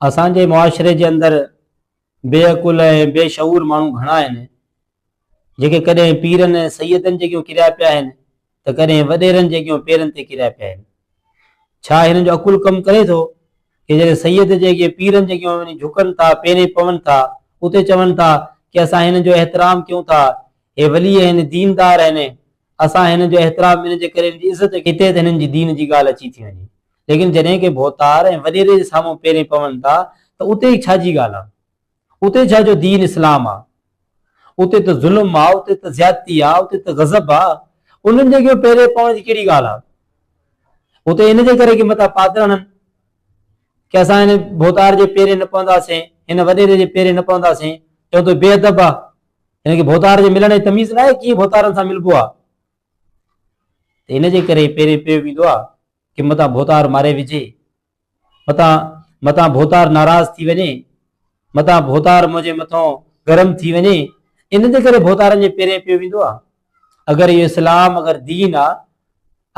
اسان جي معاشري جي اندر بي عقل ۽ بي شعور ماڻهو گهڻا آهن، جيڪي ڪڏهن پيرن ۽ سيدن جي اڳيون ڪريا پيا آهن ته ڪڏهن وڏيرن جي اڳيون پيرن تي ڪريا پيا آهن. ڇا هنن جو عقل ڪم ڪري ٿو ڪي جڏهن سيد جي اڳيئن پيرن جي اڳيون وڃي جهڪن ٿا، پيرين پون ٿا، اتي چون ٿا ڪي اسان هنن جو احترام ڪيون ٿا، هي ولي آهن، ديندار آهن، اسان هنن جو احترام هنن جي ڪري هنن جي عزت ڪيئن ٿي ته هنن جي دين جي ڳالهه اچي ٿي وڃي. ليڪن جڏهن ڪي ڀوتار ۽ وڏيري جي سامهون پيرين پون ٿا ته اتي ئي ڇا جي ڳالهه آ؟ اتي ڇا جو دين اسلام آ؟ اتي ته ظلم آ، اتي ته زيادتي آ، اتي ته غضب آ، انهن جي اڳيون پيرين پوڻ جي ڪهڙي ڳالهه آ؟ اتي ان جي ڪري ڪي متان پات رهن ڪي اسان هن ڀوتار جي پيرين نه پونداسين، هن وڏيري جي پيرين نه پونداسين، چون ته بي ادب آ، هن کي ڀوتار جي ملڻ جي تميز ناهي، ڪيئن ڀوتارن سان ملبو آ؟ ته ان جي ڪري پيرين پيو ويندو آ. ڪي متان ڀوتار ماري وجهي، متان متان ڀوتار ناراض ٿي وڃي، متان ڀوتار منهنجي مٿان گرم ٿي وڃي، ان جي ڪري ڀوتارن جي پيرين پيو ويندو آ. اگر اهو اسلام اگر دين آ،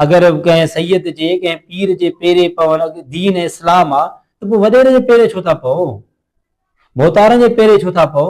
اگر ڪنهن سيد جي ڪنهن پير جي پيرين پوڻ دين ۽ اسلام آ ته پوء وڏيري جي پيرين ڇو ٿا پئو؟ ڀوتارن جي پيرين ڇو ٿا پئو؟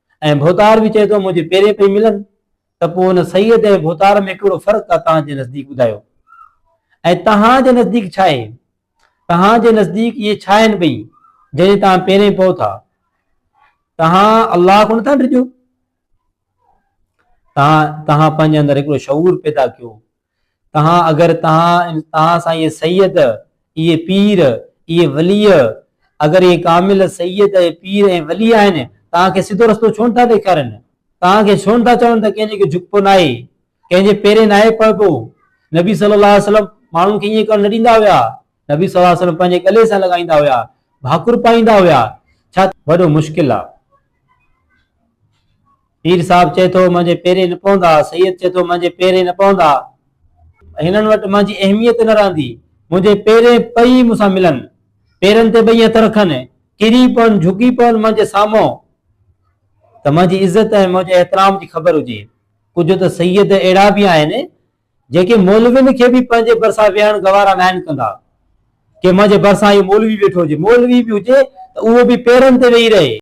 ۽ ڀوتار به چئي ٿو منهنجي پيرين پئي ملن ته پوء ان سيد ۽ ڀوتار ۾ ڪهڙو فرق آ توهان جي نزديڪ ٻڌايو ۽ توهان جي نزديڪ ڇا آهي توهان جي نزديڪ اهي ڇا آهن ٻئي جنهن جي توهان پيرين پئو ٿا توهان الله کان نٿا ڊڄو توهان توهان پنهنجي اندر هڪڙو شعور پيدا ڪيو تهان اگر تهان تهان سان اهي سيد، اهي پير، اهي وليء، اگر اهي ڪامل سيد ۽ پير ۽ ولي آهن، تهان کي سڌو رستو ڇو نه ٿا ڏيکارين؟ تهان کي ڇو نه ٿا چون ته ڪنهن جي اڳي جهڪبو ناهي، ڪنهن جي پيرين ناهي پوبو؟ نبي صلي الله عليه وسلم ماڻهن کي ائين ڪرڻ نه ڏيندا هيا، نبي صلي الله عليه وسلم پنهنجي ڳلي سان لڳائيندا هيا، ڀاڪر پائيندا هيا، ڇا ته وڏو مشڪل آ. پير صاحب چئي ٿو منهنجي پيري نه پوندا، سيد چئي ٿو منهنجي پيري نه پوندا. هنن وٽ منهنجي اهميت نه رهندي، منهنجي پيري پئي مون سان ملن، پيرن تي پئي هٿ رکن، ڪري پون، جهڪي پون منهنجي سامهون ته منهنجي عزت ۽ منهنجي احترام جي خبر هجي. ڪجهه ته سيد اهڙا به آهن. جيڪي مولوين کي به پنهنجي ڀرسان ويهڻ گوارا ناهن ڪندا. ڪي منهنجي ڀرسان اهو مولوي ويٺو هجي، مولوي به هجي ته اهو به پيرن تي ويهي رهي.